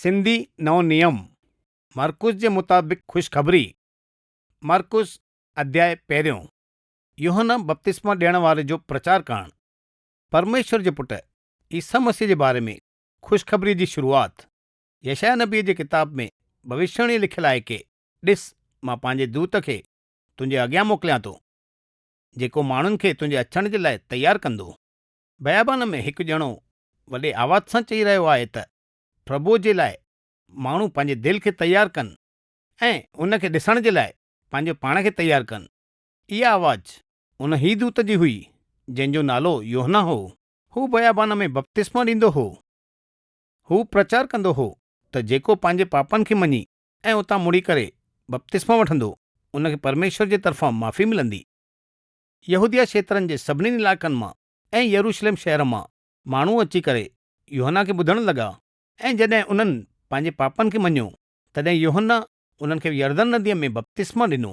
سنڌي نئون نيم، مرقس جي مطابق خوشخبري، مرقس اڌياء پهريون، يوحنا بپتسما ڏيڻ واري جو پرچار ڪرڻ، پرميشور جي پٽ عيسيٰ مسيح جي باري ۾ خوشخبريء جي شروعات، يشعيا نبيء جي ڪتاب ۾ ڀوشياڻي لکيل آهي ڪي، ڏس، مان پنهنجي دوت کي تنهنجي اڳيان موڪليان ٿو، جيڪو ماڻهن کي تنهنجي اچڻ جي لاء تيار ڪندو. بيابان ۾ هڪ ڄڻو وڏي آواز سان چئي رهيو آهي ته پرڀوء جي لاء ماڻهو پنهنجي دل کي تيار ڪن ۽ ان کي ڏسڻ جي لاء پنهنجو پاڻ کي تيار ڪن. اها آواز ان هي دوت جي هئي، جنهن جو نالو يوحنا هو. هو بيابان ۾ بپتسمو ڏيندو هو. هو پرچار ڪندو هو ته جيڪو پنهنجي پاپن کي مڃي ۽ اتان مڙي ڪري بپتسمو وٺندو، ان کي پرميشور جي طرفان معافي ملندي. يهوديه کيترن جي سڀني علائقن مان ۽ يروشلم شهر مان ماڻهو اچي ڪري يوحنا کي ٻڌڻ لڳا. ۽ جڏهن انهن پنهنجي پاپن کي مڃيو، تڏهن يوحنا انهن کي يردن نديء ۾ بپتسمو ڏنو.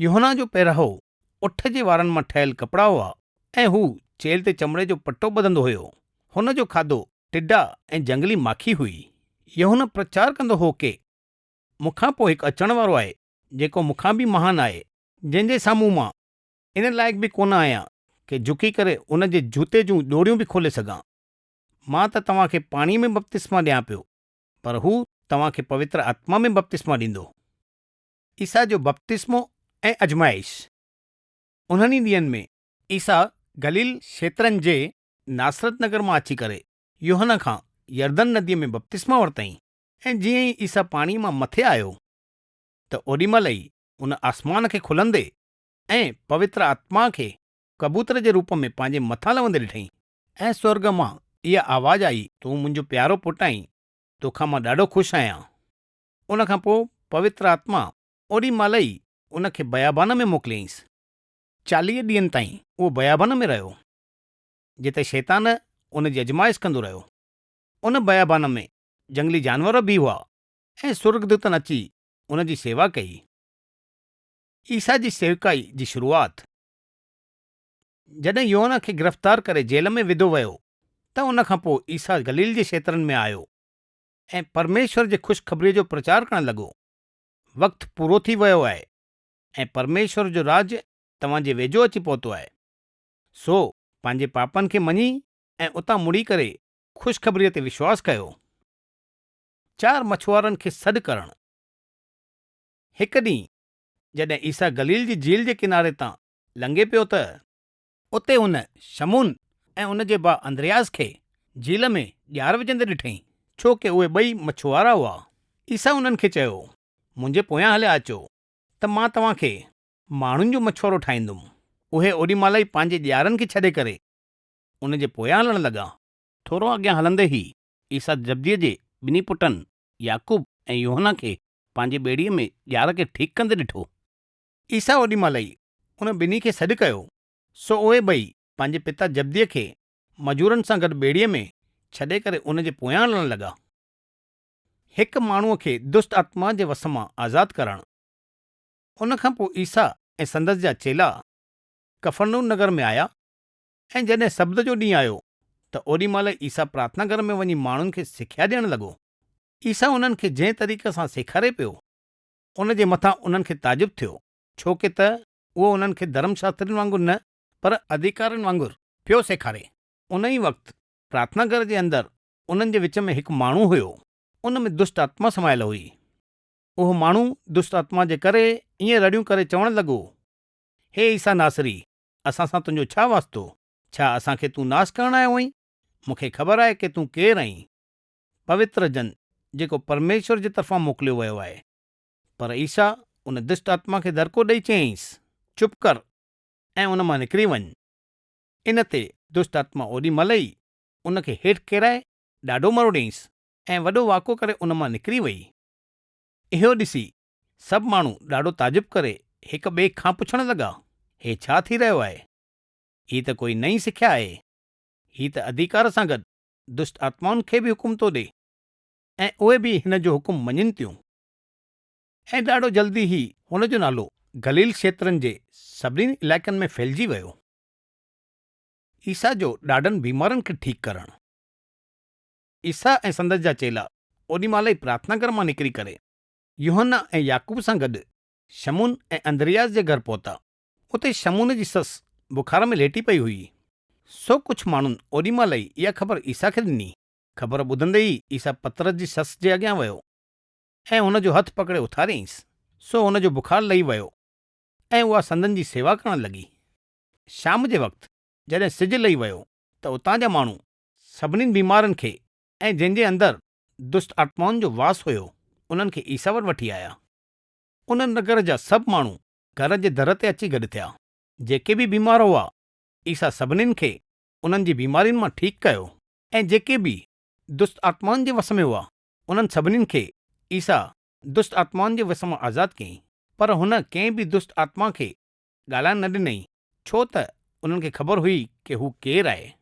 يوحنا جو پهراوو اٺ جي وارن مان ٺهيل ڪپڙا هئا، ۽ هو چيلهه تي چمڙي جو پٽو ٻڌندو هيو. هن جو کاڌو ٽڊا ۽ جهنگلي ماکي هئي. يوحنا پرچار ڪندو هو ڪي، مون کان پوء هڪ اچڻ وارو آهي، جيڪو مون کان به مهان آهي، جنهن جي سامهون مان ان لائق به ڪونه آهيان ڪي جهڪي ڪري ان جي جوتي جون ڄوڙيون به کولي سگهان. مان ته توهان کي پاڻيء ۾ بپتسما ڏيان پيو، پر هو توهان کي پوتر آتما ۾ بپتسما ڏيندو. عيسيٰ جو بپتسمو ۽ ازمائش. انهن ئي ڏينهن ۾. عيسيٰ گليل کيترن جي ناصرت نگر مان اچي ڪري يوحنا کان يردن نديء ۾ بپتسما ورتائين. ۽ جيئن ئي عيسيٰ پاڻيء مان مٿي آيو، ته اوڏي مهل ئي ان آسمان کي کلندي ۽ پوتر آتما کي ڪبوتر جي روپ ۾ پنهنجي مٿان لهندي ڏٺائين ۽ سورڳ مان اها آواز آئي، تون منهنجو پيارو پٽ آهين، توکان مان ڏاڍو خوش آهيان. ان کان پوء پوتر آتما اوڏي مهل ئي ان کي بيابان ۾ موڪليائينس. چاليهه ڏينهن تائين اهو بيابان ۾ رهيو، جتي شيطان ان جي ازمائش ڪندو رهيو. ان بيابان ۾ جهنگلي جانور به هئا ۽ سورڳدوتن اچي ان جي شيوا ڪئي. عيسيٰ جي سيوڪائي جي شروعات، جڏهن يوحنا کي گرفتار ڪري جيل ۾ وڌو ويو ته ان کان پوء عيسيٰ گليل جي کيترن ۾ آيو ۽ پرميشور جي خوشخبريء جو پرچار ڪرڻ لڳو، وقت پورو ٿي ويو آهي ۽ پرميشور جو راڄ توهان جي ويجهو اچي پهتو آهي. سو پنهنجي پاپن کي مڃي ۽ اتان مڙي ڪري خوشخبريء تي وشواس ڪيو. چار مڇوارن کي سڏ ڪرڻ. هڪ ڏينهن جڏهن عيسيٰ گليل جي جھيل جي ڪناري تان لنگھي پيو ته. اتي هن شمعون ۽ ان جي ڀاء اندرياس کي جھيل ۾ ڄار وجھندي ڏٺئي، ڇو ڪه اهي ٻئي مڇوارا هئا. عيسيٰ انهن کي چيو، منهنجي پويان هليا اچو، ته مان توهان کي ماڻهن جو مڇوارو ٺاهيندم. اهي اوڏي مهل ئي پنهنجي ڄارن کي ڇڏي ڪري ان جي پويان هلڻ لڳا. ٿورو اڳيان هلندي ئي عيسيٰ زبديء جي ٻنهي پٽن يعقوب ۽ يوحنا کي پنهنجي ٻيڙيء ۾ ڄار کي ٺيڪ ڪندي ڏٺو. عيسيٰ اوڏي مهل ئي ان ٻنهي کي سڏ ڪيو، سو اهي ٻئي پنهنجي پتا زبديء کي مزورن سان گڏ ٻيڙيء ۾ ڇڏي ڪري ان جي پويان هلڻ لڳا. هڪ ماڻهوء کي دست آتمائن جي وس مان آزاد ڪرڻ. ان کان پوء عيسيٰ ۽ سندس جا چيلا ڪفرنحوم نگر ۾ آيا. ۽ جڏهن سبت جو ڏينهن آيو ته اوڏي مهل عيسيٰ پرارٿنا گهر ۾ وڃي ماڻهن کي سکيا ڏيڻ لڳو. عيسيٰ انهن کي جنهن طريقي سان سيکاري پيو، ان جي مٿان انهن کي تعجب ٿيو، ڇو ڪي ته اهو انهن کي ڌرم شاسترين وانگر نه، پر ادهيڪارين وانگر پيو سيکاري. ان ئي وقت پرارٿنا گهر جي اندر انهن جي وچ ۾ هڪ ماڻهو هيو، ان ۾ دشٽ آتما سمايل هئي. اهو ماڻهو دشٽ آتما جي ڪري ائين رڙيون ڪري چوڻ لڳو، هي عيسيٰ ناصري، اسان سان تنهنجو ڇا واسطو؟ ڇا اسان کي تون ناس ڪرڻ آيو هئين؟ مون کي خبر آهي ڪي تون ڪير آهين، پوتر جن، جيڪو پرميشور جي طرفان موڪليو ويو آهي. پر عيسيٰ ان دشٽ آتما کي دڙڪو ڏيئي چيائينس، چپ ڪر ۽ ان مان نڪري وڃ. ان تي دشٽ آتما اوڏي مهل ئي ان کي هيٺ ڪيرائي ڏاڍو مروڙيائينس ۽ وڏو واڪو ڪري ان مان نڪري وئي. اهو ڏسي سڀ ماڻهو ڏاڍو تعجب ڪري هڪ ٻئي کان پڇڻ لڳا، هي ڇا ٿي رهيو آهي؟ هي ته ڪوئي نئين سکيا آهي. هي ته اڌيڪار سان گڏ دشٽ آتمائن کي به حڪم ٿو ڏي ۽ اهي به هن جو حڪم مڃين ٿيون. ۽ ڏاڍو جلدي هي هن جو نالو گليل کيترن جي سڀني علائقن ۾ ڦهلجي ويو. عيسيٰ جو ڏاڍن بيمارن کي ٺيڪ ڪرڻ. عيسيٰ ۽ سندس جا چيلا اوڏي مهل ئي پرارٿنا گهر مان نڪري ڪري يوحنا ۽ يعقوب سان گڏ شمعون ۽ اندرياس جي گهر پهتا. اتي شمعون جي سس بخار ۾ ليٽي پئي هئي. سو ڪجهه ماڻهن اوڏي مهل ئي اها خبر عيسيٰ کي ڏني. خبر ٻڌندي ئي عيسيٰ پطرس جي سس جي اڳيان ويو ۽ هن جو هٿ پڪڙي اٿاريائينس، سو هن جو بخار لهي ويو ۽ اها سندن جي سيوا ڪرڻ لڳي. شام جي وقت جڏهن سج لهي ويو ته اتان جا ماڻهو سڀني بيمارن کي ۽ جن جي اندر دست آتمائن جو واس هيو، انهن کي عيسيٰ وٽ وٺي آيا. ان نگر جا سڀ ماڻهو گهر جي در تي اچي گڏ ٿيا. جيڪي به بيمار هئا، عيسيٰ سڀنين کي انهن جي بيمارين مان ٺيڪ ڪيو. ۽ جيڪي به دست آتمائن جي وس ۾ هئا، انهن سڀنين کي عيسيٰ دست آتمائن جي وس مان آزاد ڪيائين. پر هن ڪنهن به دست آتما کي ڳالهائڻ نه ڏنائين، ڇو ته انهن کي خبر هئي ڪي هو ڪير آهي.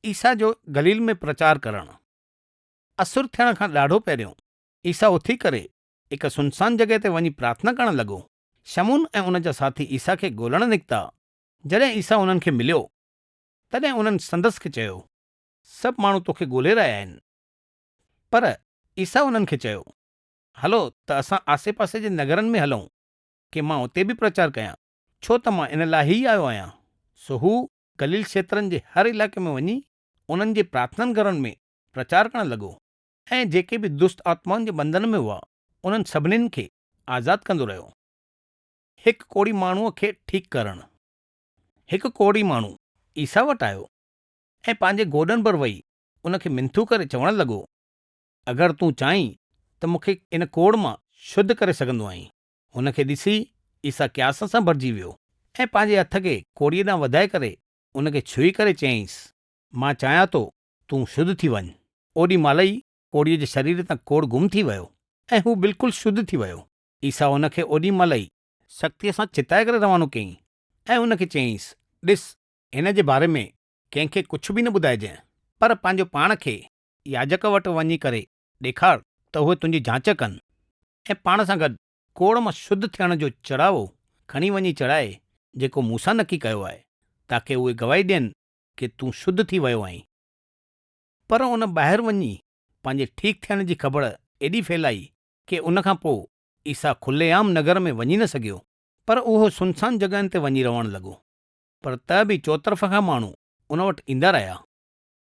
عيسيٰ جو گليل ۾ پرچار ڪرڻ. اسر ٿيڻ کان ڏاڍو پهريون، عيسيٰ اٿي ڪري، هڪ سنسان جڳهه تي وڃي پرارٿنا ڪرڻ لڳو. شمعون ۽ ان جا ساٿي عيسيٰ کي ڳولڻ نڪتا. جڏهن عيسيٰ انهن کي مليو، تڏهن انهن سندس کي چيو، سڀ ماڻهو توکي ڳولي رهيا آهن. پر عيسيٰ انهن کي چيو، هلو ته اسان آسي پاسي جي نگرن ۾ هلون، ڪي مان اتي به پرچار ڪيان، ڇو ته مان ان لاء ئي آيو آهيان. سو هو ڪليل کيترن جي هر علائقي ۾ وڃي انهن جي پرارٿنن گهرن ۾ پرچار ڪرڻ لڳو ۽ جيڪي به دست آتمائن جي بندن ۾ هئا انهن سڀنين کي آزاد ڪندو رهيو. هڪ ڪوڙي ماڻهوء کي ٺيڪ ڪرڻ هڪ ڪوڙي ماڻهو عيسيٰ وٽ آيو ۽ پنهنجي گوڏن ڀر ويهي ان کي منٿون ڪري چوڻ لڳو، اگر تون چاهين ته مون کي ان ڪوڙ مان شڌ ڪري سگهندو آهين. هن کي ڏسي عيسيٰ قياس سان ڀرجي ويو ۽ پنهنجي هٿ کي ڪوڙيء ڏانهن وڌائي ڪري ان کي ڇهي ڪري چيائينس، مان چاهيان ٿو تون شڌ ٿي وڃ. اوڏي مهل ئي ڪوڙيء جي شرير تان ڪوڙ گم ٿي ويو ۽ هو بلڪل شڌ ٿي ويو. عيسيٰ هن کي اوڏي مهل ئي سختيء سان چتائي ڪري روانو ڪيائين ۽ ان کي چيائينس، ڏس، هن جي باري ۾ ڪنهن کي ڪجهه به نه ٻڌائجانء، پر پنهنجو پاڻ کي ياجڪ وٽ وڃي ڪري ڏيکار ته اهي تنهنجي جاچ ڪن، ۽ پاڻ سان گڏ ڪوڙ مان شڌ ٿيڻ جو چڙاوو کڻي وڃي چڙهائي، جيڪو مون سان نڪي ڪيو آهي، تاڪه اهي گواهي ڏين ڪي تون شڌ ٿي ويو آهين. پر ان ٻاهر وڃي پنهنجي ٺيڪ ٿيڻ جي خبر ايڏي ڦهلائي ڪي ان کان پوء عيسيٰ کلي عام نگر ۾ وڃي نه سگهيو، پر اهو سنسان جڳهن تي وڃي رهڻ لڳو. پر ته به چوطرف کان ماڻهو ان وٽ ايندا رهيا.